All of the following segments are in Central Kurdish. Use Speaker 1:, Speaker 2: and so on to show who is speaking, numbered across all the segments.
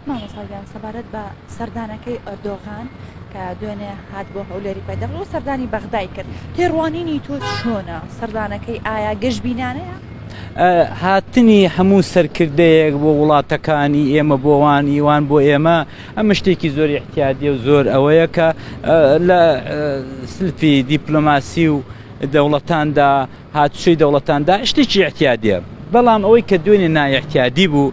Speaker 1: مامۆستا گیان سەبارەت بە سەردانەکەی ئەردۆغان کە دوێنێ هات بۆ هەولێری پایتەخت و سەردانی بەغدای کرد تێڕوانینی تۆ چۆنە سەردانەکەی ئایا گەشبینانەیە
Speaker 2: هاتنی هەموو سەرکردەیەک بۆ وڵاتەکانی ئێمە بۆوان ئیوان بۆ ئێمە ئەمە شتێکی زۆر احتیادی و زۆر ئەوەیە کە لە سلفی دیپلۆماسی و دەوڵەتاندا هاتوچەی دەوڵەتاندا شتێکی احتیادە بەڵام ئەوەی کە دوێنێ نایحتیادی بوو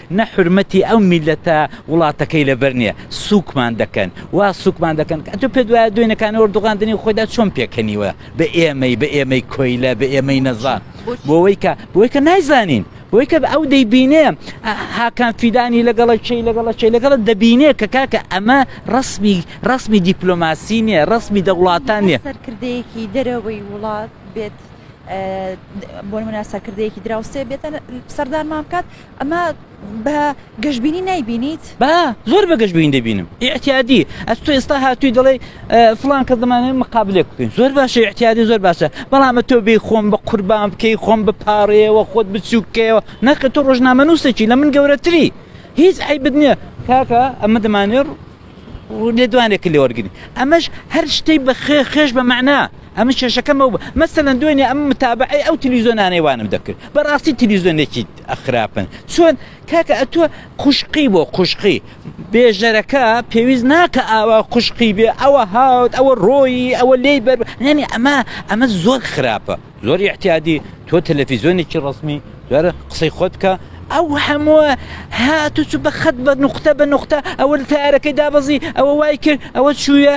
Speaker 2: نە حورمەتی ئەو میلەتە وڵاتەکەی لەبەر نیە سوکمان دەکەن وا سوکمان دەکەن کە ئەتو پێت وایە دوێنەکان ئۆردوغان دنی خۆیدا چۆن پێکەنیوە بە ئێمەی بە ئێمەی کۆیلە بە ئێمەی نەزان بۆەوەی کە بۆی کە نایزانین بۆی کە ئەو دەیبینێ هاکان فیدانی لەگەڵە چی لەگەڵە چی لەگەڵە دەبینێ کە کاکە ئەمە ڕسمی ڕسمی دیپلۆماسی نیە ڕسمی دەوڵاتان نیە سەرکردەیەکی دەرەوەی
Speaker 1: وڵات بێت بۆ منە سەرکردەیەکی دراوسێ بێتە سەردانمان بکات ئەمە بە گەشبینی نایبینیت؟ با زۆر بە گەشبینی
Speaker 2: دەبینم ئیعتیادی ئەس تۆ ئێستا هاتووی دەڵێی فڵان کەس دەمانێت مقابلێک بکەین زۆر باشە ئیعتیادی زۆر باشە بەڵام ئەتۆ بێ خۆم بە قوربان بکەی خۆم بپارەیەوە خۆت بچووکەوە نەخە تۆ ڕۆژنامەنووسێکی لە من گەورەتری هیچ عیبت نییە کاکە ئەمە دەمانێت و لێدوانێک کە لێوەرگری ئەمەش هەر شتەی بە خێ خێش بە معنا ئەمە کێشەکەم ئەو مەسەن دوێنێ ئەم متابعی ئەو تلیزۆنانەی وانم دەکرد بەڕاستی تلیزۆنێکی ئەخراپن چۆن کاکە ئەتوە خوشقی بۆ خوشقی بێژەرەکە پێویست ناکە ئاوا خوشقی بێ ئەوە هاوت ئەوە ڕۆیی ئەوە لێی بەر ینی ئەمە ئەمە زۆر خراپە زۆر ئیعتیادی تۆ تەلەفیزۆنێکی ڕەسمی دوارە قسەی خۆت بکە ئەو هەمووە هاتوچ بە خەت بە نقطە بە نقطە ئەوە لە تارەکەی دابەزی ئەوە وای کرد ئەوە چوویە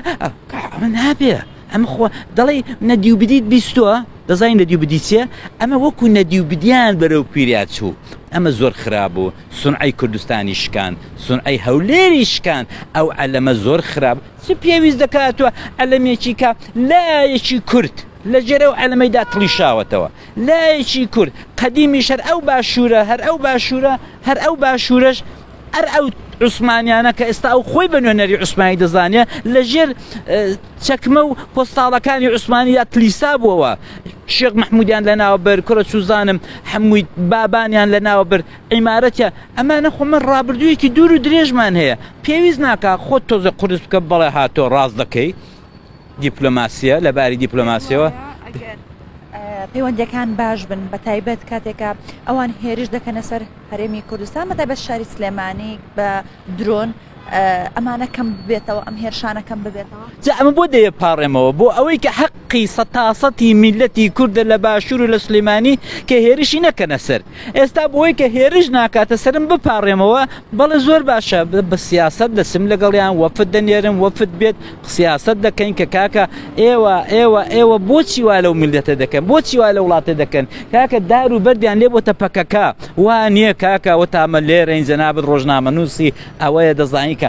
Speaker 2: ئەمە نابێ ئەم خۆ دەڵی نەدی و بدیت بیستوە دەزانین نەدی و بدیچە ئەمە وەکو نەدی و بدیان بەرەو پیریا چوو ئەمە زۆر خراپ بوو سونعی کوردستانی شکان سونعی هەولێری شکان ئەو ئەلەمە زۆر خراپ چ پێویست دەکاتوە ئەلەمێکی کە لایەکی کورد لە ژێر ئەو عەلەمەیدا تڵیشاوەتەوە لایەکی کورد قەدیمیش هەر ئەو باشوورە هەر ئەو باشوورە هەر ئەو باشوورەش ئەر ئەو عوسمانیانە کە ئێستا ئەو خۆی بە نوێنەری عوسمانی دەزانێ لە ژێر چەکمە و پۆستاڵەکانی عوسمانیدا تلیسا بووەوە شێخ مححمودیان لە ناوە بەر کوڕە چوزانم هەمووی بابانیان لە ناوە بەر عیمارەتە ئەمانە خۆمە ڕابردوویەکی دوور و درێژمان هەیە پێویست ناکە خۆت تۆزە قرس بکە بەڵێ هاتۆ ڕاست دەکەی دیپلۆماسیە لە باری دیپلۆماسیەوە پەیوەندەکان
Speaker 1: باش بن بە تایبەت کاتێکە ئەوان هێرش دەکەنە سەر هەرێمی کوردستان بە تایبەت شاری سلێمانی بە درۆن ئەمانە کەم بێتەوە ئەم هێرشانە کەم ببێتەوە جا ئەمە بۆ دەیە
Speaker 2: پاڕێمەوە بۆ ئەوەی کە حەقی سە تاسەتی میلەتی کوردە لە باشوور و لە سلێمانی کە هێرشی نەکەنە سەر ئێستا بۆی کە هێرش ناکاتە سەرم بپاڕێمەوە، بەڵێ زۆر باشە، بە سیاسەت دەچم لەگەڵیان، وەفد دەنێرم، وەفد بێت، سیاسەت دەکەین کە کاکە ئێوە، ئێوە، ئێوە بۆچی وا لەو میللەتە دەکەن، بۆچی وا لە وڵاتە دەکەن، کاکە دار و بەردیان لێ بۆتە پەکەکە، وا نییە کاکە، وتامە لێرەین، جەنابت ڕۆژنامەنووسی، ئەوەیە دەزانی کە.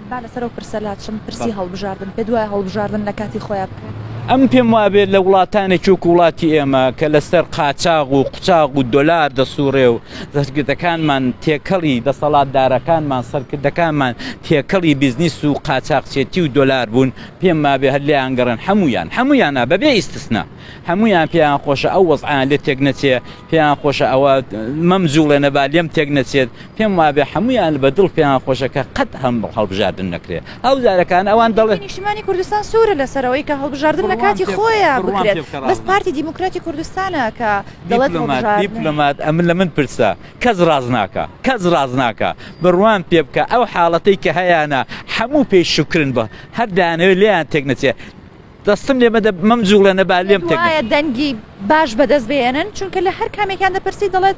Speaker 1: با لەسەر ئەو پرسە لاچم، پرسی هەڵبژاردن،
Speaker 2: پێت وایە هەڵبژاردن لە کاتی خۆیا بکرێت؟ ئەمن پێم وابێت لە وڵاتانێکی وەکو وڵاتی ئێمە کە لەسەر قاچاغ و قوچاغ و دۆلار دەسوڕێ و دەستگردەکانمان تێکەڵی دەسەڵاتدارەکانمان سەرکردەکانمان تێکەڵی بیزنیس و قاچاقچێتی و دۆلار بوون پێم وابێ هەر لێیان گەڕێن هەمویان هەمویانە بەبێ ئیستسنا هەمویان پێیان خۆشە ئەو وەزعیان لێ تێک نەچێ پێیان خۆشە ئەوە مەم جوڵێنە با لێم تێک نەچێت پێم وابێ هەمویان بە دڵ پێیان خۆشە کە قەت هەم هەڵبژاردن نەکرێت ئەو جارەکان ئەوان دەڵێت نیشتمانی کوردستان سوورە
Speaker 1: لەسەرەوەی کە هەڵبژاردن لە کاتی خۆیان بکرێت بەس پارتی دیموکراتی کوردستانە کە دیپلۆمات
Speaker 2: ئەمن لە من پرسە کەس ڕاز ناکە کەس ڕاز ناکە بڕوان پێ بکە ئەو حاڵەتەی کە هەیانە هەموو پێی شکرن بە هەر دانەوێت لێیان تێک نەچێت دەستم لێ مەدە مەمجوڵێنە با لێم تێک وایە دەنگی باش
Speaker 1: بەدەست بێنن چونکە لە هەر کامێکیان دەپرسی دەڵێت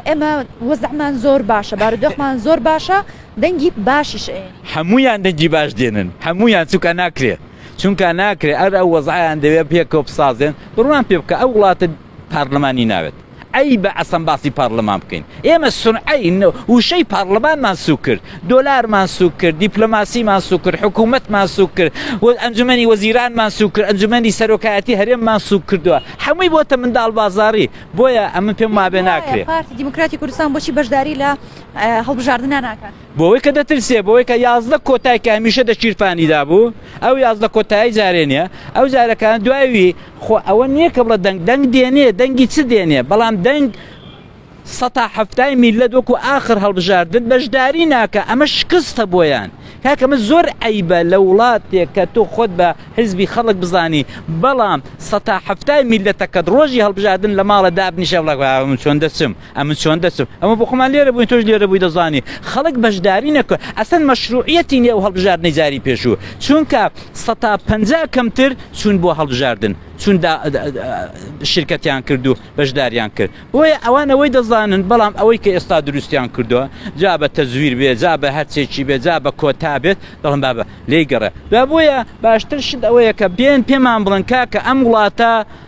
Speaker 1: ئێمە وەزەمان زۆر باشە بارودۆخمان زۆر باشە دەنگی باشیش هەمویان دەنگی
Speaker 2: باش دێنن هەمویان چووکە ناکرێت چونکە ناکرێت ئەر ئەو وەزعیان دەوێت پێکەوە بسازێن بڕوان پێ بکە ئەو وڵاتە پارلمانی ناوێت عەیبە ئەسڵەن باسی پارلمان بکەین ئێمە سونعەی وشەی پارلمانمان سوک کرد دۆلارمان سوک کرد دیپلۆماسیمان سوک کرد حکوومەتمان سوک کرد و ئەنجومنی وەزیرانمان سوک کرد ئەنجومنی سەرۆکایەتی هەرێممان سوک کردووە هەمووی بۆتە منداڵ بازاری بۆیە ئەمە پێم مابێ ناکرێت دیموکراتی کوردستان
Speaker 1: بۆچی بەشداری لە هەڵبژاردننا ناکات بۆوەی کە دەترسێ
Speaker 2: بۆوەی کە یازدە کۆتای کە هەمیشە دە چیرپانی دابوو ئەو یازدە کۆتایی جارێ نیە ئەو جارەکان دوایوی خۆ ئەوە نییە کە بڵە دەنگ دەنگ دێنێ دەنگی چ دێنێ بەڵام دەنگ سەتا هەفتای میلە دۆکو ئاخر هەڵبژاردن بەشداری ناکە ئەمە شکستە بۆیان کاکەمە زۆر ئەیبە لە وڵاتێک کە تۆ خۆت بە حزبی خەڵک بزانی بەڵام سەتا هەفتای میلەتەکەت ڕۆژی هەڵبژاردن لە ماڵە دابنیشە بڵک چۆن دەچم ئەمن چۆن دەچم ئەمە بۆ خۆمان لێرە بووین تۆش لێرە بووی دەزانی خەڵک بەشداری نەکە ئەسەن مەشروعەتی نیە و هەڵبژاردنەی جاری پێشوو چونکە سەتا پەنجا کەمتر چوون بۆ هەڵبژاردن چون شرکەتیان کرد و بەشداریان کرد بۆیە ئەوان ئەوەی دەزانن بەڵام ئەوەی کە ئێستا دروستیان کردووە جا بە تەزویر بێ جا بە هەرچێکی بێ جا بە کۆتا بێت دەڵم بابە لی گەڕێ بۆیە باشتر شت ئەوەیە کە بێن پێمان بڵن کاکە ئەم وڵاتە